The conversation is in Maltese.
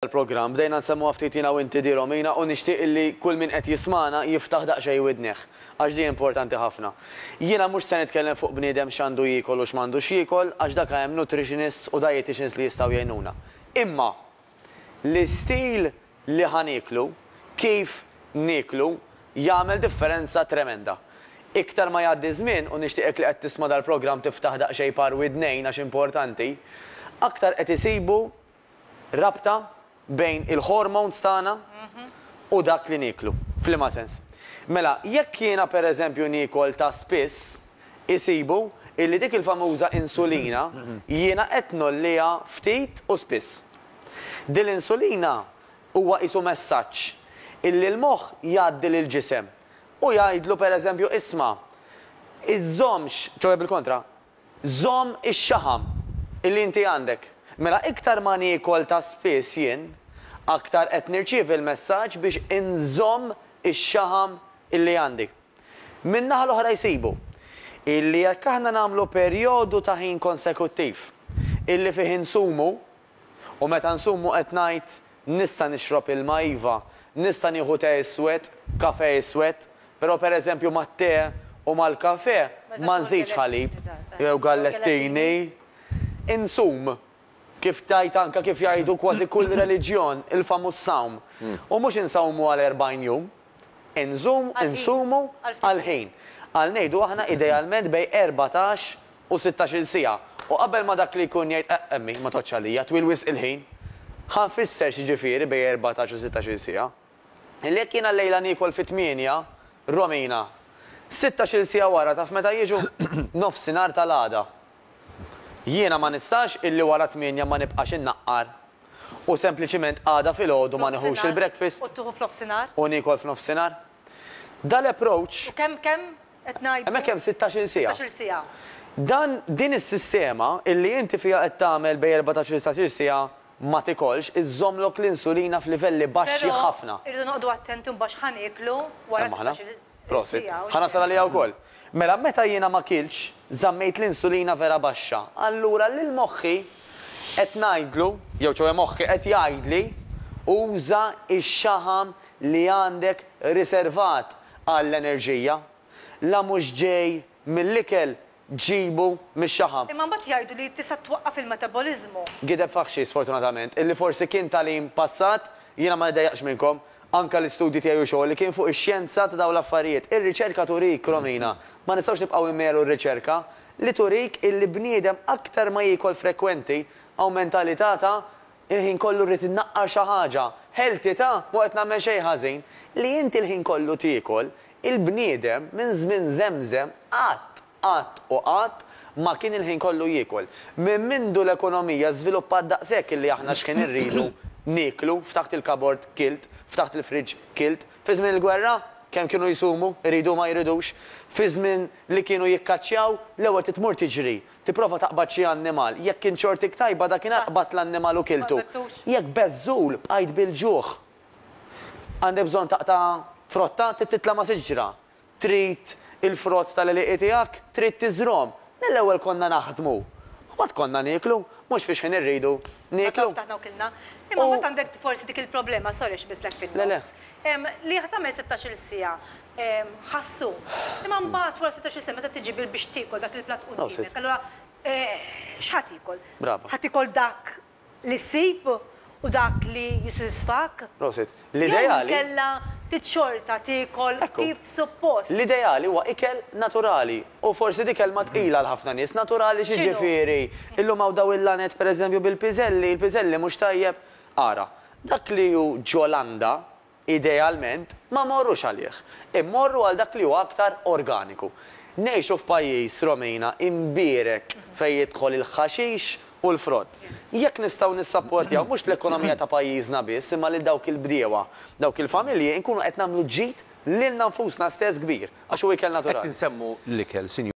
tal-programm. Bdejna nsemmuha ftit jiena u inti di Romina u nixtieq illi kull min qed jismagħna jiftaħ daqsxejn widnih għax di importanti ħafna. Jiena mhux se nitkellem fuq bniedem x'għandu jiekol u x'm'għandux jiekol għax dak hemm nutritionists u dieticians li jistgħu jgħinuna. Imma l-istil li ħa nieklu, kif nieklu jagħmel differenza tremenda. Iktar ma jgħaddi ż-żmien u nixtieqek li qed tisma' dal-programm tiftaħ daqsxejn par widnejn għax importanti, aktar qed isibu rabta bejn il-hormones tagħna u dak li nieklu. F'liema sens? Mela, jekk jiena pereżempju niekol ta' spiss, isibu illi dik il-famuża insulina jiena qed ngħolliha ftit u spiss. Dil-insulina huwa qisu messaġġ illi l-moħħ jgħaddi lill-ġisem u jgħidlu pereżempju isma' iżżommx, ċoe bil-kontra, Żomm ix-xaħam li inti għandek. Mela iktar ma niekol ta' spiss jien, aktar qed nirċievi l-messaġġ biex inżomm ix-xaħam li għandi. Min-naħa l-oħra jsibu, illi jekk aħna nagħmlu perjodu ta' ħin konsekuttiv, illi fih insumu, U meta nsum u qed ngħid, Nista' nixrob ilma, iva, nista' nieħu te iswed, kafè iswed, però pereżempju mat-te u mal-kafè ma nżidx ħalib jew gallettini. Insum, kif tgħid anke kif jgħidu kważi kull reliġjon, il-famuż sawm. U mhux insawmu għal erbgħin jum. Inżomm, insumu, għall-ħin. Għal ngħidu aħna idealment bejn erbatax u sittax-il siegħa. U qabel ma dak li jkun jgħid eqq emmi, ma tgħoddx għalija, twil wisq il-ħin. Ħa nfisser x'jiġifieri bejn erbatax u sittax-il siegħa. Li jekk jiena llejla niekol fit-tmienja, Romina, sittax-il siegħa wara taf meta jiġu? Nofsinhar tal-għada. Jiena ma nistax illi wara t-tmienja ma nibqax innaqqar u sempliċiment għada filgħodu ma nieħux il-breakfast u niekol f'nofsinhar. Da l-approach. U kemm kemm qed ngħidu? Hemmhekk hemm sittax-il siegħa. Sittax-il siegħa. Dan, din is-sistema illi inti fiha qed tagħmel bejn erbatax-il setax-il siegħa ma tikolx iżżommlok l-insulina f'livelli baxxi ħafna. Però irridu noqogħdu attenti mbagħad x'ħa nieklu wara sittax-il. Prosit. Ħa nasal għaliha wkoll. Mela meta jiena ma kiltx, żammejt l-insulina vera baxxa. Allura lil moħħi qed ngħidlu, jew ċoe moħħi qed jgħidli, uża x-xaħam li għandek riservat għall-enerġija. La mhux ġej mill-ikel ġġibu mix-xaħam. Imma mbagħad jgħidu li tista' twaqqaf il-metaboliżmu. Gideb faħxi sfortunatament, illi forsi kien tagħlim passat, jiena ma niddejjaqx minnkom, anke l-istudji tiegħi u xogħli kien fuq ix-xjenza ta' dawn l-affarijiet. Ir-riċerka turik, Romina, ma nistgħux nibqgħu nmehlu r-riċerka, li turik illi bniedem aktar ma jiekol frekwenti, awment alità ta' Il-ħin kollu rrid innaqqar xi ħaġa. Ħeltitha? M'hu qed nagħmel xejn ħażin. Li inti l-ħin kollu tiekol, il-bniedem minn żmien żemżem qatt, qatt u qatt ma kien il-ħin kollu jiekol. Minn mindu l-ekonomija żviluppat daqshekk illi aħna x'ħin irridu nieklu, ftaħt il-kabord kilt, ftaħt il-fridge kilt. Fi żmien il-gwerra? Kemm kienu jsumu, iridu u ma jridux. Fi żmien li kienu jikkaċċjaw, l-ewwel trid tmur tiġri, Tipprova taqbad xi annimal. Jekk kien xortik tajba, dakinhar qbadt l-annimal u kiltu. Jekk beżżul, bqajt bil-ġuħ. Għandek bżonn taqta' frotta? Trid titla' ma' siġra? Trid il-frott tal-għelieqi tiegħek? Trid tiżrgħhom? Mill-ewwel konna naħdmu. U mbagħad konna nieklu. Mhux fix-xħin irridu nieklu. Meta ftaħna u kilna. Imma mbagħad għandek forsi dik il-problema, sorry xbislek fin-nofs, li tagħmel sittax-il siegħa. ħassu. Imma mbagħad wara setax-il sena meta tiġi bil biex tiekol dak il-platt quddiemek, allura x' ħa tiekol? Brava. Ħa tiekol dak li ssib u dak li jissodisfak? Prosit. L-ideali. Jew inkella trid xorta tiekol kif suppost? L-ideali huwa ikel naturali u forsi di kelma tqila għal ħafna nies. Naturali xi ġifieri? Illum hawn dawn il-laned pereżempju bil-piżelli, il-piżelli mhux tajjeb? Ara, dak li hu ġo landa, Idealment, ma mmorrux għalih. Immorru għal dak li huwa aktar organiku. Ngħixu f'pajjiż, Romina, imbierek fejn jidħol il-ħaxix u l-frott. Jekk nistgħu nissapportjaw mhux l-ekonomija ta' pajjiżna biss imma lil dawk il-bdiewa, dawk il-familji, inkunu qed nagħmlu ġid lilna nfusna stess kbir, għax hu ikel naturali. Qed insemmu l-ikel, Sinjura.